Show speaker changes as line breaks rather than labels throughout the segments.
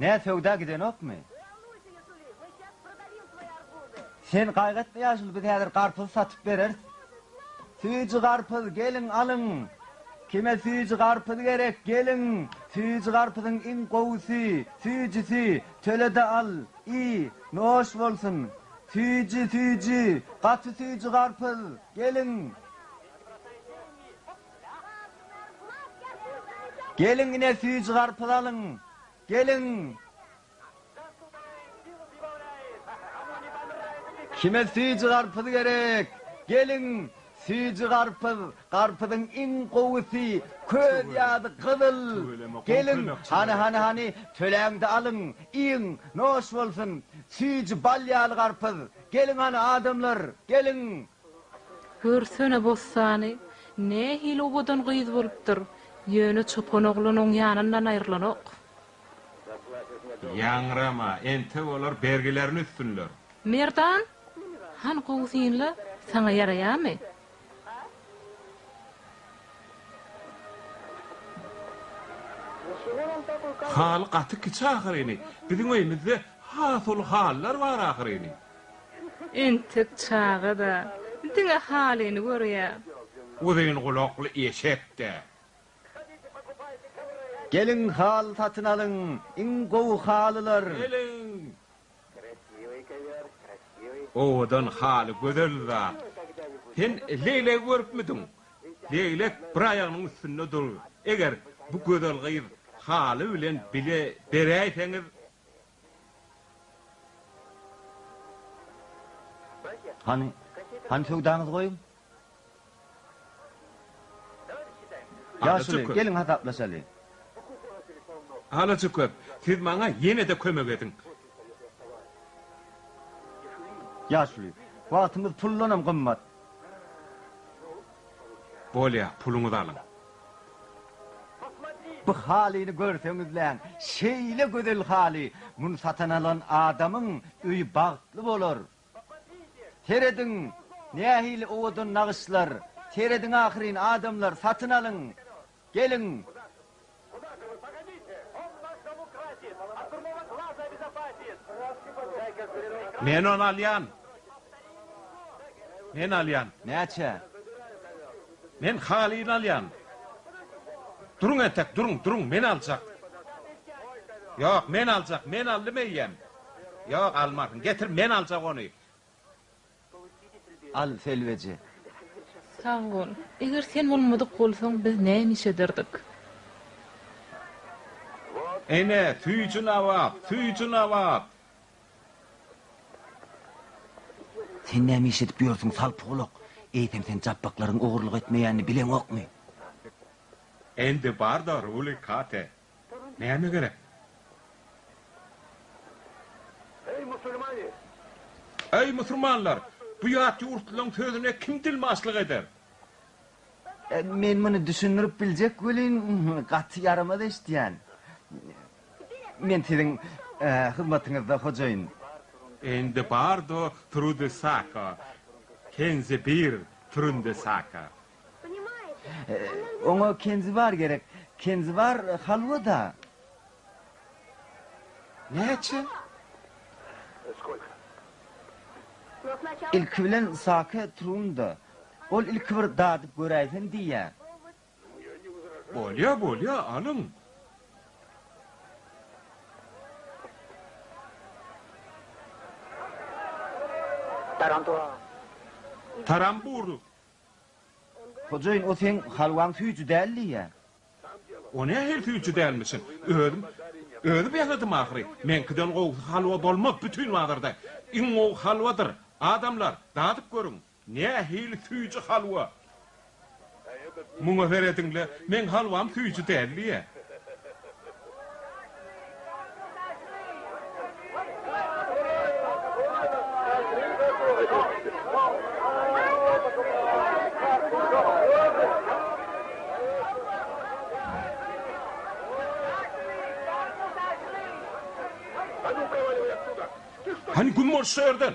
Nä söwda gidenokmy? Sen gaýgytma ýaşuly biz häzir garpyz satyp bereris. Süýji garpyz geliň alyň. Kime süýji garpyz gerek geliň. Süýji garpyzyň iň gowusy, süýjüsi. Tölede al, iý, noş bolsun. Süýji, süýji, gaty süýji garpyz, geliň. Geliň ine süýji garpyz alyň. Geliň. Kime süýji garpyz gerek? Geliň. Süýji garpyz, garpyzyň iň gowusy, köz ýaly gyzyl. Geliň. Hany, hany, hany, töläňde alyň, iýiň, noş bolsun. Süýji bal ýaly garpyz. Geliň hany, adamlar, geliň. Görsene Bossany, nähili owadan gyz bolupdyr, ýöne çopan oglan oň ýanyndan aýrylanok. Ýaňrama, entek olar bergilerini üsdünler. Merdan, hany gowy synla, saňa ýaraýamy? Haly gaty kiçi ahyryny, biziň öýümizde has uly halylar bar ahyryny. Entek çaga-da, diňe halyny görýär. Uzyn gulakly eşek-de. Geliň, haly satyn alyň, iň gowy halylar. Geliň! Owadan haly gözel zat. Sen leglegi görüpmidiň? Leglek bir aýagynyň üstünde dur. Eger bu gözel gyz haly bilen bile beräýseňiz. Hany, hany söwdaňyzy goýuň. Ýaşuly, geliň hasaplaşaly. Alajaköp, siz maňa ýene-de kömek ediň. Ýaşuly, wagtymyz puldanam gymmat. Bolýar, puluňyzy alyň. Bu halyny görseňizläň, şeýle gözel haly, muny satan alan adamyň öýi bagtly bolar. Serediň, nähili owadan nagyşlar, serediň ahyryn, adamlar, satyn alyň, geliň! Men ony alýan! Men alýan! Näçä? Men halyny alýan. Duruň entek, duruň, duruň, men aljak. Ýok, men aljak, men aldym eýýäm. Ýok, almarsyň. Getir, men aljak ony. Al, Selweje. Sag bol. Eger sen bolmadyk bolsaň, biz näme iş ederdik? Ene, süýji-nabap, süýji-nabap! Sen näme iş edip ýörsüň, salpygulak? Eýsem sen japbaklaryň ogurlyk etmeýänini bileňokmy? Indi bar-da, Ruli Kate. Näme gerek? Eý, musulmanlar! Bu ýat ýurtlylaryň sözüne kim dilmaçlyk eder? Men muny düşündirip biljek welin, gaty ýaramaz eşidýän. Men siziň hyzmatyňyzda, hojaýyn. Indi bardo trudy sako, kenzi bir trunde sako. Oňa kenzi bar gerek, kenzi bar halwa-da. Näçe? Ilki bilen sake trunda. Ol ilki bir dadyp göräýsin diýýär. Bolýa, bolýa, alyň. Tarantura. Tarambur. Hojaýyn, o seň halwaň süýji däl diýýär. O nähili süýji dälmişin? Özüm, özüm ýasadym ahyry. Meňkiden gowusy halwa bolmaz bütin bazarda. Iň gowy halwadyr. Adamlar, dadyp görüň. Nähili süýji halwa? Muňa serediň-le, meň halwam süýji däldi-ä. Hany, güm boluş şu ýerden!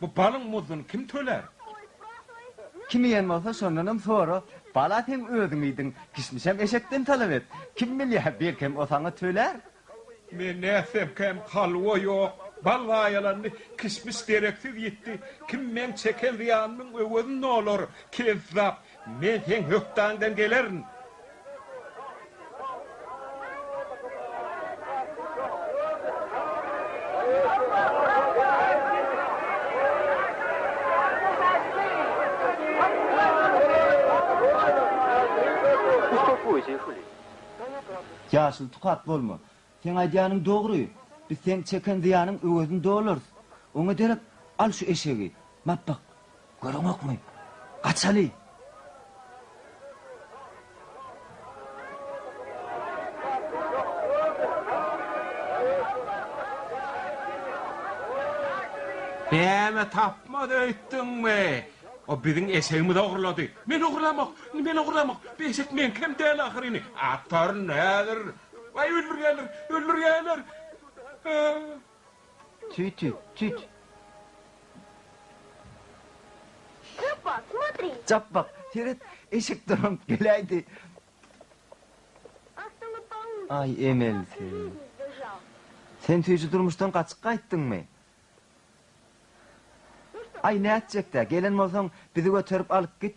Bu balyň muzduny kim tölär? Kim iýen bolsa, şondanam sora. Bala seň özüň iýdiň, kişmişem eşekden talap et. Kim bilýär, belkem o saňa tölär? Men nätsemkäm, halwa ýok, bal zaýalandy, kişmiş dereksiz ýitdi. Kim meň çeken zyýanymyň öwezini olar? Kezzap! Men seň hökdaňdan gelerin. Ýaşyl tukat bolma. Seň aýdýanyň dogry. Biz seň çeken zyýanyň öwezini dolarys. Oňa derek al şu eşegi. Bap bak. Göreňokmy? Gaçaly! Däme tapmaz öýtdüňmi? O biziň eşegimizi ogurlady. Men ogurlamok! Men ogurlamok! Bu eşek meňkem däl ahyryny. Ataryn häzir. Waý, öldürýärler, öldürýärler! Tüt, tüt, tüt! Stoppa, smotri! Çalt bak, seret, eşek durant geläýdi! Aý, Emel, sen. Sen süýji durmuşdan gaçyp gaýtdyňmy? Aý, nätjek-dä, gelen bolsaň, bizi göterip alyp git!